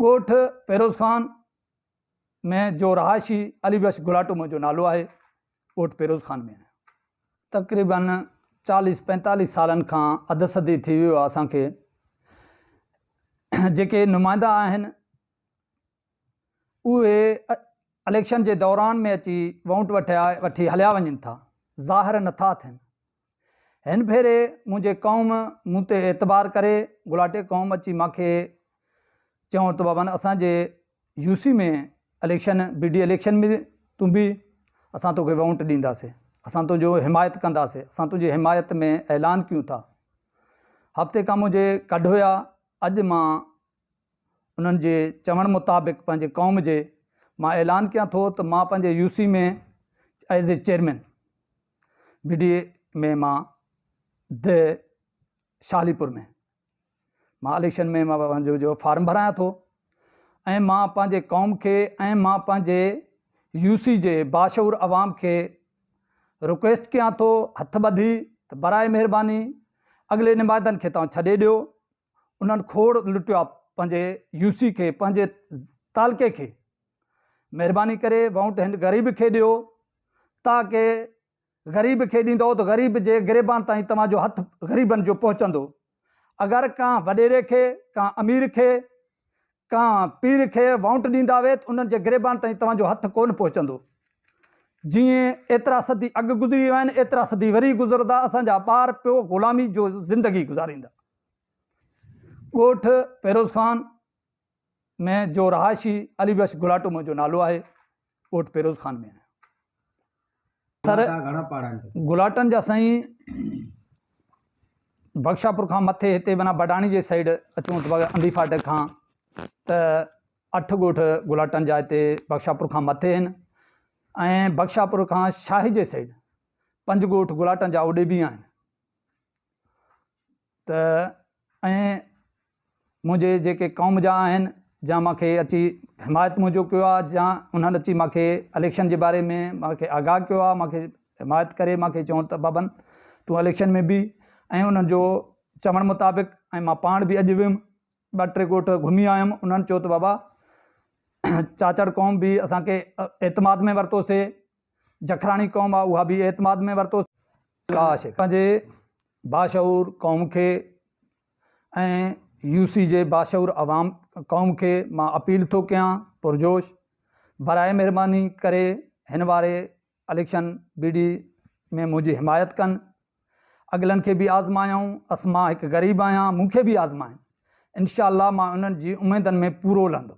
ڳوٺ فيروز خان ۾ جو رهائشي علي بخش گلاٽو منهنجو نالو آهي ڳوٺ فيروز خان ۾ آهيان تقريبن چاليس پينتاليس سالن کان اڌ صدي ٿي ويو آهي اسان کي جيڪي نمائندا آهن اهي اليڪشن جي دوران ۾ اچي ووٽ وٺي هليا وڃن ٿا ظاهر نٿا ٿين هن ڀيري منهنجي قوم مون تي اعتبار ڪري گلاٽي قوم اچي مان کي چيون ته بابا اسان جي UC ۾ election B D election ۾ تون به اسان توکي ووٽ ڏينداسي اسان تنهنجو حمايت ڪنداسي اسان تنهنجي حمايت ۾ اعلان ڪيون ٿا هفتي کان منهنجي ڪڍ هيا اڄ مان انهن جي چوڻ مطابق پنهنجي قوم جي مان اعلان ڪيان ٿو ته مان پنهنجي UC ۾ as a chairman body ۾ مان د شالي پور ۾ مان اليڪشن ۾ مان پنهنجو جو فارم ڀرايان ٿو ۽ مان پنهنجي قوم کي ۽ مان پنهنجي يو سي جي باشعور عوام کي رڪويسٽ ڪيان ٿو هٿ ٻڌي ته برائي مهرباني اڳلي نمائندن کي توهان ڇڏي ڏيو انهن کوڙ لٽيو آ پنهنجي يو سي کي پنهنجي تعلقي کي مهرباني ڪري وونٽ هن غريب کي ڏيو تاڪه غريب کي ڏيندو ته غريب جي گريبان تائين توهان جو هٿ غريبن جو پهچندو اگر ڪا وڏيري کي ڪا امير کي ڪا پير کي وونٽ ڏيندا وي ته انهن جي گريبان تائين توهان جو هٿ ڪون پهچندو جي ايترا صدي اڳ گذري ويا آهن ايترا صدي وري گذردا اسان جا ٻار پيو غلامي جو زندگي گذاريندا ڳوٺ پيروزخان ۾ جو رهائشي علي بخش گلاٽو منهنجو نالو آهي. ڳوٺ پيروزخان ۾ آهيان. سر گلاٽن جا سائين بخشاپور کان مٿي هتي معنيٰ بڊاڻي جي سائيڊ اچون ته انڌي فاٽڪ کان ته اٺ ڳوٺ گلاٽن جا هتي بخشاپور کان مٿي آهن ۽ بخشاپور کان شاهي جي سائيڊ پنج ڳوٺ گلاٽن جا اوڏي به آهن. ته ائين منهنجي جيڪي قوم جا آهن جا مونکي اچي حمايت منهنجو ڪيو آهي جا انهن اچي مونکي اليڪشن جي باري ۾ مونکي آگاهه ڪيو آهي مونکي حمايت ڪري مونکي چون ته بابن تون اليڪشن ۾ بيهه ۽ انهن جو چوڻ مطابق ۽ مان پاڻ به اڄ ويم ٻ ٽي ڳوٺ گهمي آيم انهن چيو ته بابا چاچڙ قوم به اسانکي اعتماد ۾ ورتوسي جکراڻي قوم آ اها به اعتماد ۾ ورتوسين. ڪاش پنهنجي باشعور قوم کي ۽ يو سي جي باشعور عوام قوم کي مان اپيل ٿو ڪيان پرجوش براء مهرباني ڪري هن واري اليڪشن بي ڊي ۾ منهنجي حمايت ڪن اڳلن کي به آزمايائون اس مان هڪ غريب آهيان مون کي به آزمائن انشاء الله مان انهن جي اميدن ۾ پورو لهندم.